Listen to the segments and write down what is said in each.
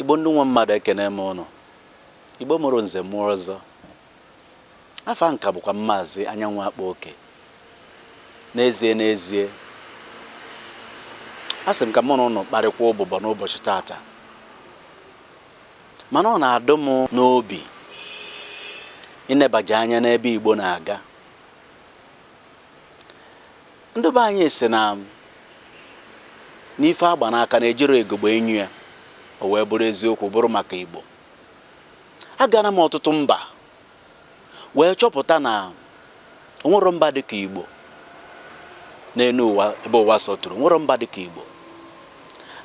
igbo ndị nwe mmadụ ekene m ụnụ igbo mụrụ nze mụọ ọzọ afa m ka bụkwa maazị anyanwụ akpa oke n'ezie n'ezie a sị m ka mụ na ụnụ kparịkwa ụbụbọ n'ụbọchị tata mana ọ na-adụ m n'obi ịnebaja anya n'ebe igbo na-aga Ndị be anyị sị na n'ife agba n'aka na ejiro ugegbe enyo ya o wee bụrụ eziokwu bụrụ maka Igbo. Agara m ọtụtụ mba wee chọpụta na o nwero mba dịka Igbo n'elu ụwa ebe ụwa sọtụrụ o nwero mba dịka Igbo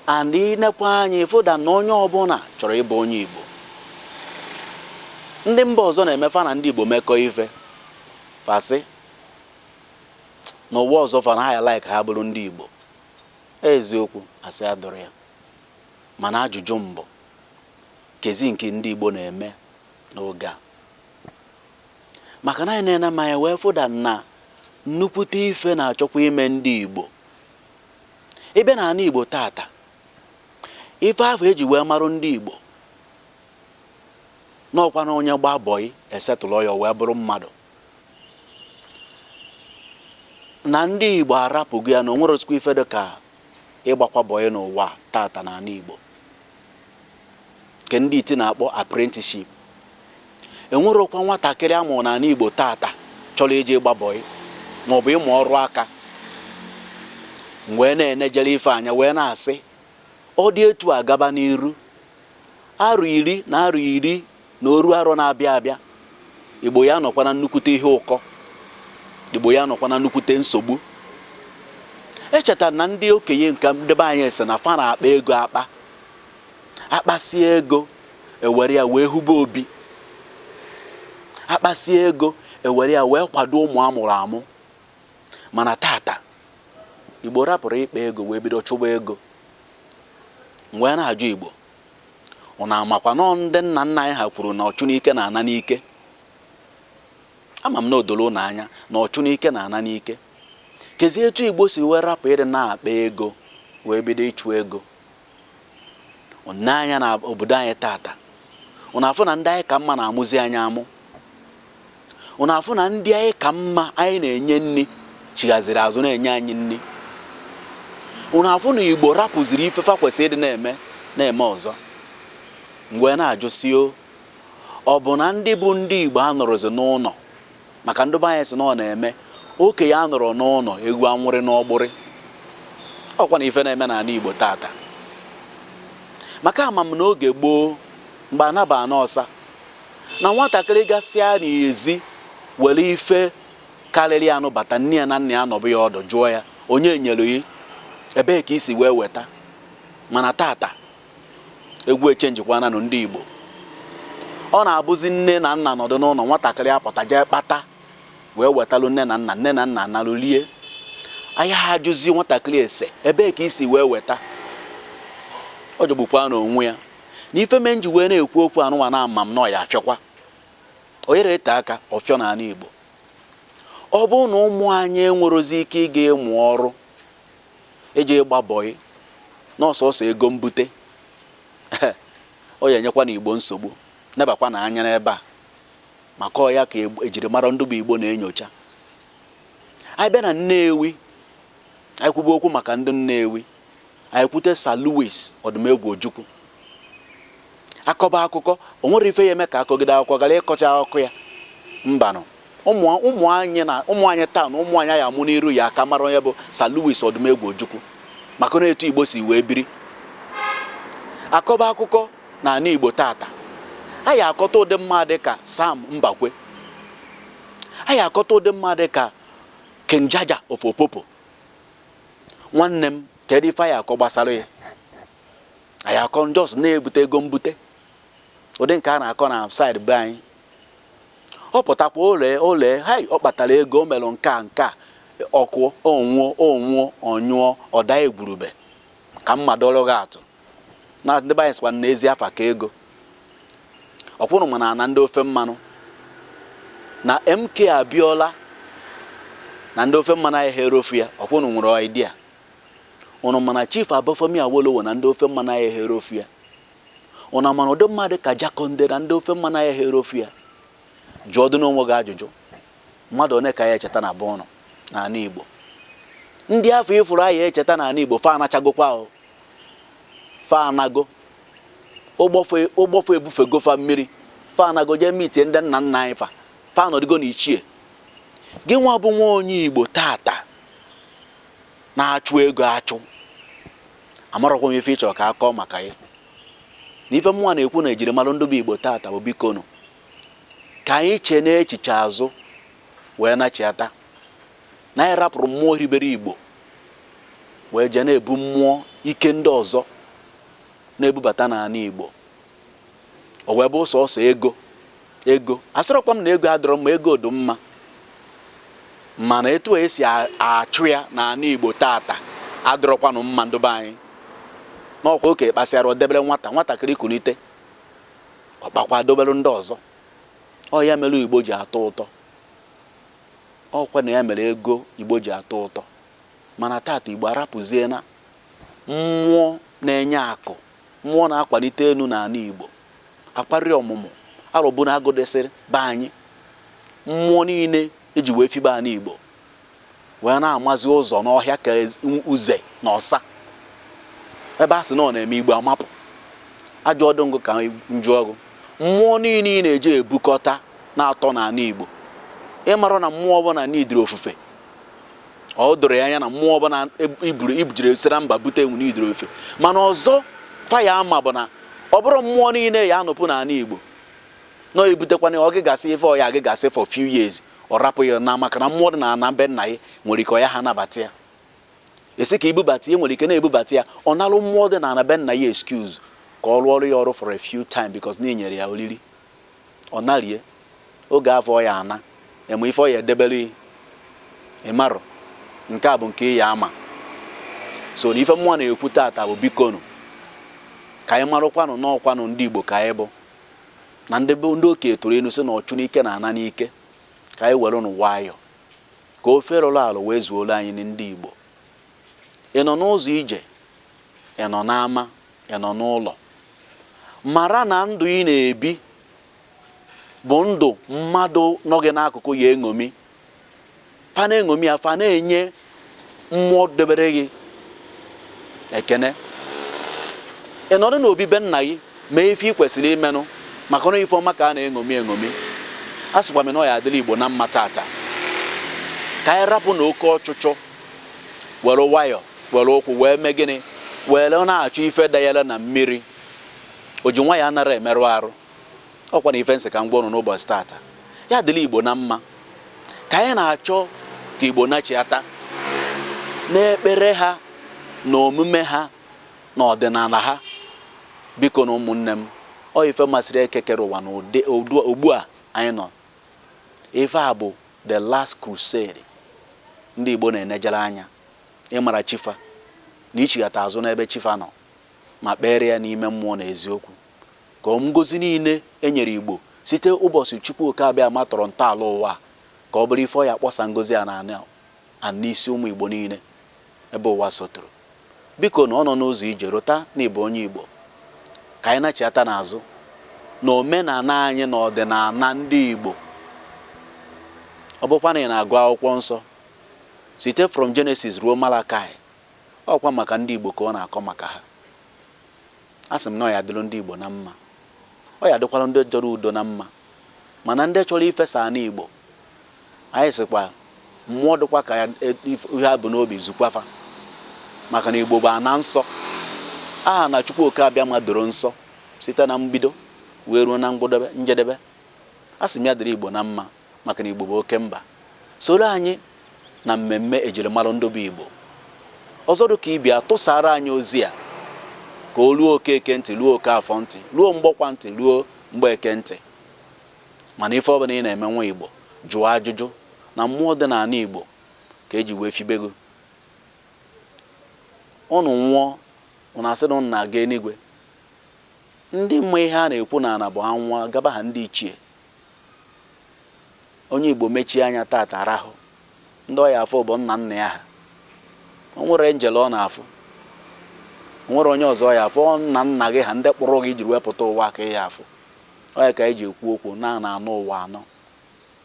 and ị nekwa anya ị fụ that na onye ọbụla chọrọ ịbụ onye Igbo ndị mba ọzọ na-eme fa na ndị Igbo mekọọ ife Fa sị na ụwa ọzọ fa na ha ya like ha bụrụ ndị Igbo. Ọ eziokwu, asị adịrọ ya. Mana ajụjụ m bụ, kezi nke ndị Igbo na-eme n'oge a? Maka na anyị na-ene ma anyị wee fụ that na nnukwute ife na-achọkwa ime ndị Igbo. Ị bịa n'ana Igbo tata, ife afụ e ji wee marụ ndị Igbo na ọkwa na onye gbaa bọị e settle-ọ ya o wee bụrụ mmadụ na ndị Igbo arapụgo ya na o nwerozikwa ife dị ka ịgbakwa bọị n'ụwa tata n'ana Igbo nke ndị iti na-akpọ apprenticeship enwerokwa nwatakịrị a mụrụ n'ana Igbo tata chọrọ ije ịgba bọị maọbụ ịmụ ọrụ aka wee na-enejere ife anya wee na-asị ọ dị etu a gaba n'iru Arọ iri na arọ iri na oru arọ na-abịa abịa, Igbo ya-anọkwa na nnukwute ihe ụkọ. Igbo ya-anọkwa na nnukwute nsogbu. Echeta na ndị okenye nke ndị be anyị sị na fa na-akpa ego akpa. Akpasịa ego, ewere ya wee hube obi. Akpasịa ego, ewere ya wee kwado ụmụ a mụrụ amụ. Mana tata, Igbo rapụrụ ịkpa ego wee bido chụba ego. M wee na-ajụ Igbo, ụnụ amakwa na ọ ndị nna nna anyị ha kwuru na ọchụ n'ike na-ana n'ike? Ama m na o doro ụnụ anya na ọchụ n'ike na-ana n'ike. Kezi etu Igbo si wee rapụ ịdị na-akpa ego wee bido ịchụ ego? Ụnụ nee anya n'obodo anyị taata, ụnụ afụ na ndị anyị ka mma na-amụzi anyị amụ. ụnụ afụ na ndị anyị ka mma anyị na-enye nni chighaziri azụ na-enye anyị nni ụnụ afụ na igbo rapụziri ife fa kwesịrị ịdị na-eme na-eme ọzọ m wee na-ajụ sị o ọ bụ na ndị bụ ndị igbo anọrọzi n'ụnọ maka ndị be anyị sị na ọ na-eme okenye anọrọ n'ụnọ ewu anwụrị n'ọgbụrị ọkwa na ife na-eme n'anị igbo tata maka ama m n'oge gboo mgbe ana bụ ana ọsa na nwatakịrị gasịa n'ezi were ife karịrị ya nubata nne ya na nna ya nọbe ya ọdụ jụọ ya onye nyere gị ebee ka i si wee weta mana tata egwu echenjikwana nụ ndị Igbo ọ na-abụzi nne na nna nọdụ n'ụlọ nwatakịrị apụta jee kpata wee wetalụ nne na nna nne na nna analụ lie a yaha ajụzi nwatakịrị ese ebee ka i si wee weta ọ jọgbukwana onwe ya na ife mee m ji wee na-ekwu okwu anụnwa na ama m na ọ ya-afịọkwa ọ yaha ete aka ọ fịọ na anị Igbo ọ bụrụ na ụmụ anyị enwerozi ike ịga ịmụ ọrụ eji ịgba bọyị na ọ sọsọ ego mbute ọ ya-enyekwa ana Igbo nsogbu nebakwanụ anya n'ebe a maka ọ ya ka ejiri mara ndị bụ Igbo na-enyocha anyị bịa na Nnewi anyị kwube okwu maka ndị Nnewi anyị kwute Sir Louis Odumegwu Ojukwu akọba akụkọ o nwere ife ya eme ka akọgide akwụkwọ gara ịkọcha akụkọ ya mbanụ ụmụ anyị na ụmụ anyị taa na ụmụ anyị ya-amụ n'iru ya aka mara onye bụ Sir Louis Odumegwu Ojukwu maka na etu Igbo si wee biri akọba akụkọ na anị Igbo tata a ya-akọta ụdị mmadụ ka Sam Mbakwe a ya-akọta ụdị mmadụ ka King Jaja of Opobo nwanne m kedu ife a ya-akọ gbasara gị a ya-akọ na just na-ebute ego mbute ụdị nke a na-akọ na saịdị be anyị ọ pụtakwa ole ole hai ọ kpatara ego o mere nke a nke a ọkụ o nwuo o nwuo ọ nyụọ ọda egwurube ka m madụlụ gị atụ na ndị be anyị sịkwa na ezi afa ka ego ọkwa ụnụ ma na na ndị ofe mmanụ na MK Abiola na ndị ofe mmanụ a yaha erofu ya ọkwa ụnụ nwere idea ụnụ ma na Chief Obafemi Awolowo na ndị ofe mmanụ a yaha erofu ya ụnụ ma na ụdị mmadụ ka Jakonde na ndị ofe mmanụ a yaha erofu ya jụọdịnụ onwe gị ajụjụ mmadụ one ka a ya-echeta na be ụnụ n'ala Igbo ndị afụ ị fụrụ a ya-echeta n'ala Igbo fa anachagokwa ahụ fa anago ụgbọ fa ebufego fa mmiri fa anago jee mitie ndị nna nna anyị fa fa anọdụgo na ichie gị nwa bụ nwa onye igbo tata na-achụ ego achụ amarọkwa m ife ị chọrọ ka a kọọ maka ya na ife mụnwa na-ekwu na ejirimara ndị be igbo tata bụ bikonụ ka anyị cheenụ echiche azụ wee nachiata na anyị rapụrụ mmụọ hiribere Igbo wee jee na-ebu mmụọ ike ndị ọzọ na-ebubata n'ana Igbo o wee bụ sọsọ ego ego asịrọkwa m na ego adọrọ mma ego dị mma mana etu a esi achụ ya n'ana Igbo tata adọrọkwanụ mma ndị be anyị na ọ kwa okenye kpasịara o debere nwata nwatakịrị kunite ọ kpakwa dobere ndị ọzọ ọ ya mere Igbo ji atọ ụtọ Ọ kwa na ya mere ego Igbo ji atọ ụtọ. Mana tata Igbo arapụziena mmụọ na-enye akụ, mmụọ na-akwanite enu n'ana Igbo. Akwarị ọmụmụ Arọbụnagụ dịsịrị be anyị. Mmụọ niile e ji wee fibe ana Igbo wee na-amazi ụzọ n'ọhịa ka uze na ọsa. Ebe a sị na ọ na-eme Igbo amapụ. Ajụjụ m bụ ka m jụọ gụ. Mmụọ niile ị na-eje ebukọta na-atọ n'ana Igbo. Ị mara na mmụọ ọbụla n'ụdịrị ofufe. Ọ doro gị anya na mmụọ ọbụla i bu jiri sira mba bute enwenụ ụdịrị ofufe. Mana ọzọ fa ya ama bụ na ọ bụrọ mmụọ niile ya anọpụ n'ana Igbo na ọ i butekwana ya ọ gịgasị ife ọ ya agịgasị for few years ọ rapụ ya naa maka na mmụọ dị na ana be nna gị nwere ike ọ yaha anabata ya. esi ka i bubata ya nwere ike na i bubata ya ọ narụ mmụọ dị n'ana be nna ya excuse ka ọ rụọrụ ya ọrụ for a few time because na i nyere ya oriri ọ narie oge afụ ọ ya ana eme ife ọ ya edebere ị marụ nke a bụ nke ị ya ama so na ife mụnwa na-ekwu tata bụ bikonu ka anyị marụkwanụ na ọ kwanụ ndị Igbo ka anyị bụ na ndị okenye tụrụ inu sị na ọchụ n'ike na-ana n'ike ka anyị werenụ nwayọ Ka ofe rụrụ arụ wee zuoro anyị ni ndị Igbo. Ị nọ n'ụzọ ije, ị nọ n'ama, ị nọ n'ụlọ, mara na ndụ ị na-ebi bụ ndụ mmadụ nọ gị n'akụkụ ya eṅomi. Fa na-eṅomi ya, fa na-enye mmụọ debere gị ekene ị nọdụ n'obi be nna gị mee ife ị kwesịrị imenụ maka na ọ ife ọma ka a na-eṅomi eṅomi asịkwa m na ọ ya adịrị igbo na mma tata ka anyị rapụnụ oke ọchụchụ were nwayọ were ụkwụ wee mee gịnị were na-achọ ife dayere na mmiri o ji nwayọ anara emerụ arụ ọkwa na ife m sị ka m gwa ụnụ n'ụbọchị tata ya dịlị igbo na mma ka anyị na-achọ ka igbo nachiata n'ekpere ha na omume ha na ọdịnala ha biko na ụmụnne m ọ ife masịrị eke kere ụwa na ugbu a anyị nọ ife a bụ the last crusade ndị igbo na-enejere anya ịmara chi fa na ichighata azụ n'ebe chi fa nọ ma kpere ya n'ime mmụọ na eziokwu Ka ngozi niile e nyere Igbo site ụbọchị Chukwu Okeabiama tọrọ ntọala ụwa, ka ọ bụrụ ife ọ ya akpọsa ngozi a na n'isi ụmụ Igbo niile ebe ụwa sọtụrụ. Biko nụ, ọ nọ n'ụzọ ije, rota na ị bụ onye Igbo. Ka anyị nachiata n'azụ na omenala anyị na ọdịnala ndị Igbo. Ọ bụkwa na ị na-agụ Akwụkwọ Nsọ, site from Genesis ruo Malakaị, ọ kwa maka ndị Igbo ka ọ na-akọ maka ha. A sị m na ọ ya dịrị ndị Igbo na mma, ọ ya dịkwara ndị chọrọ udo na mma, mana ndị chọrọ ifesa ana Igbo. Anyị sịkwa mmụọ dịkwa ka ihe ha bu n'obi zukwa fa maka na Igbo bụ ana nsọ. Aha na Chukwu Oke Abịama doro nsọ site na mbido wee ruo na ngwụdebe njedebe. A sị m ya dịrị Igbo na mma. maka na Igbo bụ oke mba. Soro anyị na mmemme ejirimalụ ndị bụ Igbo. Ọzọ dị ka ibe ya, tụsaara anyị ozi a ka o ruo Okeke ntị, ruo Okafọ ntị, ruo Mgbọkwọ ntị, ruo Mgbeke ntị. Mana ife ọbụla ị na-eme nwa Igbo, jụọ ajụjụ na mmụọ dị n'ana Igbo ka eji wee fibe gị. Ụnụ nwụọ, ụnụ asị na ụnụ na-aga enigwe. Ndị ma ihe a na-ekwu na ọ na-abụ a nwụọ, gaba ha ndị ichie. Onye Igbo mechie anya taata rahụ, ndị ọ ya afụ bụ nna nna ya ha. O nwere enjel ọ na-afụ. O nwere onye ọzọ ọ ya afụ. Ọ nna nna gị ha ndị kpụrụ gị i jiri wee pụta ụwa ka ị ya afụ. Ọ ya ka anyị ji ekwu okwu na a na-anọ ụwa anọ.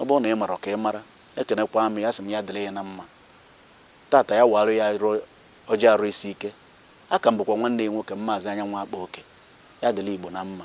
Ọ bụrụ na ị marọ ka ị mara. Ekenekwaa m ya, asị m ya dịrị ya na mma. Taata ya waalụ ya ọjị arụ isi ike. A ka m bụkwa nwanne ya nwoke, Maazị Anyanwụ Akpa Oke. Ya dịrị Igbo na mma.